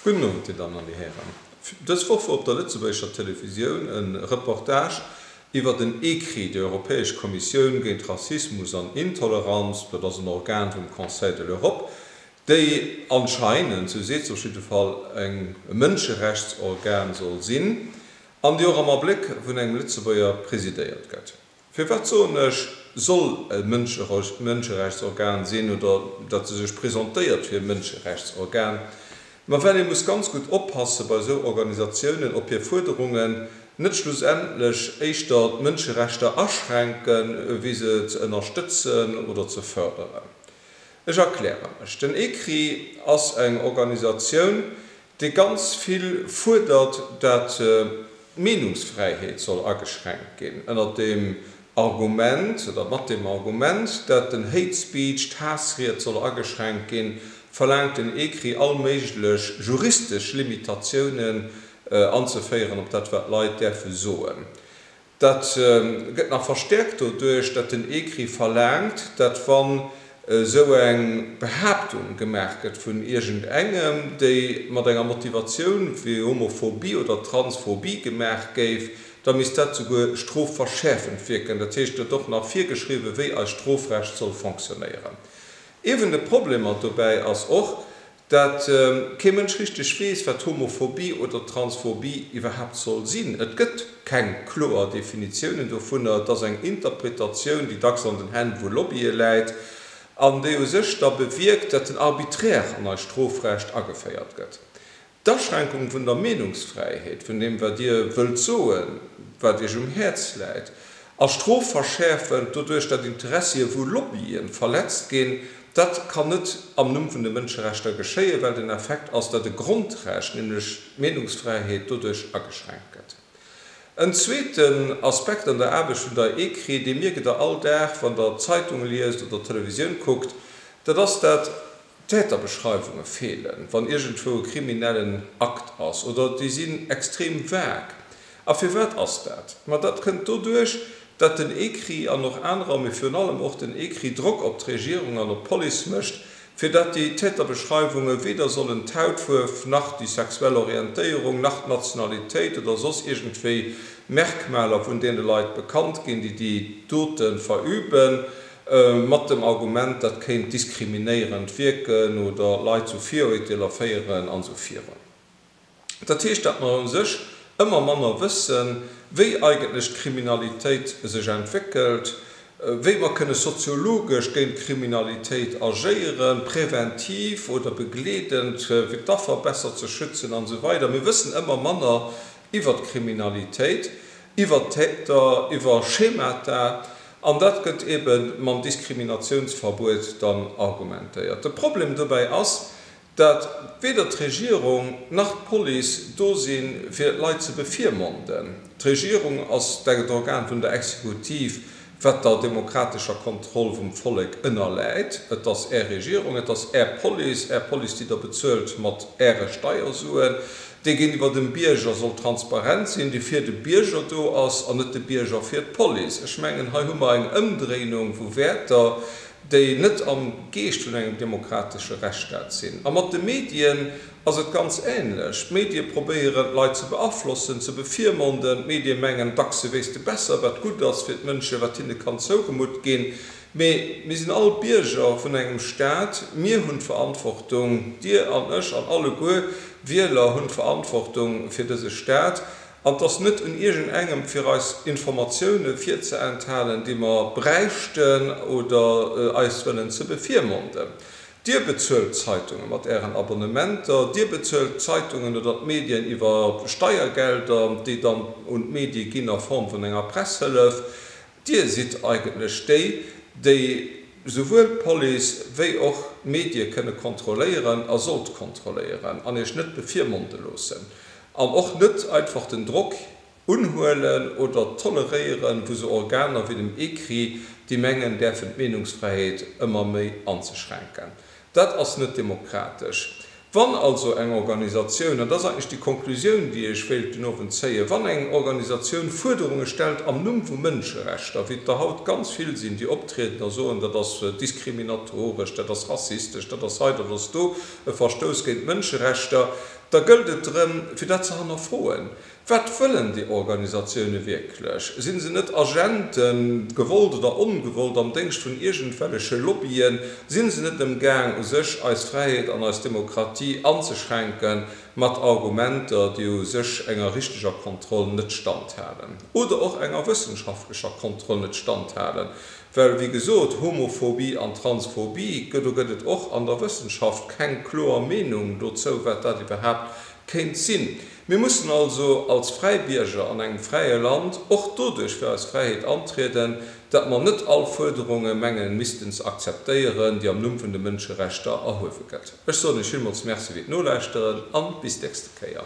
Gudden Owend, Dir Dammen an Dir Hären. Dës Woch wor op der lëtzebuergescher Televisioun e Reportage iwwert en Ecrit der Europäesch Kommissioun géint Rassismus an Intoleranz, dat ass en Organ vum Conseil de l'Europe, déi anscheinend, sou seet se op jidde Fall, eng e Mënscherechtsorgan soll sinn an déi och am Abléck vun engem Lëtzebuerger presidéiert gëtt. Firwat soen ech soll e Mënscherechtsorgan sinn oder datt e sech presentéiert fir e Mënscherechtsorgan? Ma well ee muss ganz gutt oppasse bei esou Organisatiounen, ob hir Fuerderungen net schlussendlech éischter d'Mënscherechter aschränken, wéi se ze ënnerstëtzen oder ze fërderen. Ech erkläre mech, Den ECRI ass eng Organisatioun, dee ganz vill fuerdert, datt d'Meenungsfräiheet soll ageschränkt ginn, ënnert dem Argument oder mat dem Argument, datt den Hate Speech, d'Haassried, soll ageschränkt ginn, verlaangt den ECRI all méiglech juristesch Limitatiounen anzeféieren op dat wat Leit däerfe soen. Dat gëtt nach verstäerkt doduerch, datt den ECRI verlaangt, datt wann esou eng Behaaptung gemaach gëtt vun iergend engem, déi mat enger Motivatioun wéi Homophobie oder Transphobie gemaach géif, da misst dat souguer strofverschäerfend wierken. Dat heescht, et gëtt och nach virgeschriwwen, wéi eist Strofrecht soll fonctionnéieren. Ee vun de Problemer dobäi ass och, dat kee Mënsch richteg weess, wat Homophobie oder Transphobie iwwerhaapt soll sinn. Et gëtt keng kloer Definitiounen dovunner. Et ass eng Interpretatioun, déi dacks an den Hänn vu Lobbye läit an déi u sech da bewierkt, dat den Arbitraire an eist Strofrecht ageféiert gëtt. D'Aschränkung vun der Meenungsfräiheet, vun deem wat Dir wëllt soen, wat Iech um Häerz läit, A Strof verschäerfen, doduerch datt Interessie vu Lobbyen verletzt ginn, dat kann net am Numm vun de Mënscherechter geschéien, well den Effekt ass, datt e Grondrecht, nämlech d'Meenungsfräiheet, doduerch ageschränkt gëtt. En zweeten Aspekt an der Aarbecht vun der ECRI, dee mierkt Der all Dag, wann Der d'Zeitung liest oder d'Televisioun kuckt, dat ass, datt d'Täterbeschreiwunge feelen, wann iergendwou e kriminellen Akt ass, oder déi sinn extrem vague. A firwat ass dat? Ma dat kënnt doduerch, datt den ECRI an och anerer, mee virun allem och den ECRI, Drock op d'Regierung an op d'Police mécht, fir datt déi Täterbeschreiwunge weder sollen d'Hautfuerf, nach déi sexuell Orientéierung, nach d'Nationalitéit oder soss iergendwéi Merkmaler vun deene Leit bekannt ginn, déi déi Dote verüben, mat dem Argument, dat kéint diskriminéierend wierken oder Leit zu Virurteeler féieren an esou viru. Dat heescht, datt mer u sech ëmmer manner wëssen, wéi eigentlech d'Kriminalitéit sech entwéckelt, wéi mer kënne soziologesch géint d'Kriminalitéit agéieren, präventiv oder begleedend, fir d'Affer besser ze schützen an esou weider Mir wëssen ëmmer manner iwwer d'Kriminalitéit, iwwer d'Täter, iwwer Schemata. An dat gëtt eebe mam Diskriminatiounsverbuet dann argumentéiert. De Problem dobäi ass, Datt weder d'Regierung nach d'Police do si fir d'Leit ze bevirmonden. D'Regierung ass d'Organ vun der Exekutiv, wat der demokratescher Kontroll vum Vollek ënnerläit. Et ass Är Regierung, et ass Är Police, Är Police, déi Der bezuelt mat Äre Steiersuen, déi géintiwwer dem Bierger soll transparent sinn, déi fir de Bierger do ass an net de Bierger fir d'Police. Ech mengen, hei hu mer eng Ëmdréinung vu Wäerter, déi net am Geescht vun engem demokratesche Rechtsstaat sinn. A mat de Medien ass et ganz änlech. D'Medie probéieren, d'Leit ze beaflossen, ze bevirmonden. D'Medie mengen, dacks se wéisste besser, wat gutt ass fir d'Mënschen, wat hinne kann zougemutt ginn. Mee mir sinn all Bierger vun engem Staat. Mir hunn d'Verantwortung, Dir an ech an alleguer Wieler hunn d'Verantwortung fir dëse Staat. An et ass net un iergend engem fir eis Informatiounen virzeenthalten déi mer bräichten oder eis wëllen ze befiermonden. Dir bezuelt d'Zeitungen mat ären Abonnementer, dir bezuelt d'Zeitungen oder d'Medien iwwer Steiergelder déi dann un d'Medie ginn a Form vun enger Presshëllef. Dir sidd eigentlech déi, déi souwuel d'Police wéi och d'Medie kënne kontrolléieren a sollt kontrolléieren an Iech net bevirmonde loossen an och net einfach den Drock unhuelen oder toleréieren vu sou Organer wéi dem ECRI, déi mengen däerfen d'Meenungsfräiheet ëmmer méi anzeschränken. Dat ass net demokratesch. Wann also eng Organisatioun, an dat ass eigentlech déi Konklusioun, déi ech wéilt den Owend zéien, wann eng Organisatioun Fuerderunge stellt am Numm vu Mënscherechter, wéi et der haut ganz vill sinn, déi optrieden a soen, dat ass diskriminatoresch, dat ass rassistesch, dat ass hei, dat ass do, e Verstouss géint d'Mënscherechter, da gëllt et drëm, fir dat ze hannerfroen. Wat wëllen déi Organisatioune wierklech? Sinn se net Agenten, gewollt oder ongewollt, am Déngscht vun iergendwelleche Lobbyen? Sinn se net ëm gaang u sech eis Fräiheet an eis Demokratie anzeschränken mat Argumenter, déi u sech enger richteger Kontroll net standhalen oder och enger wëssenschaftlecher Kontroll net standhalen? Well, wéi gesot, Homophobie an Transphobie, do gëtt et och an der Wëssenschaft keng kloer Meenung dozou, wat dat iwwerhaapt kéint sinn. Mir mussen also als fräi Bierger an engem fräie Land och doduerch fir eis Fräiheet antrieden, dat mer net all Fuerderunge mengen missten ze akzeptéieren, déi am Numm vun de Mënscherechter erhuewe gëtt. Ech soen Iech villmools Merci fir d'Nolauschteren an bis d'nächste Kéier.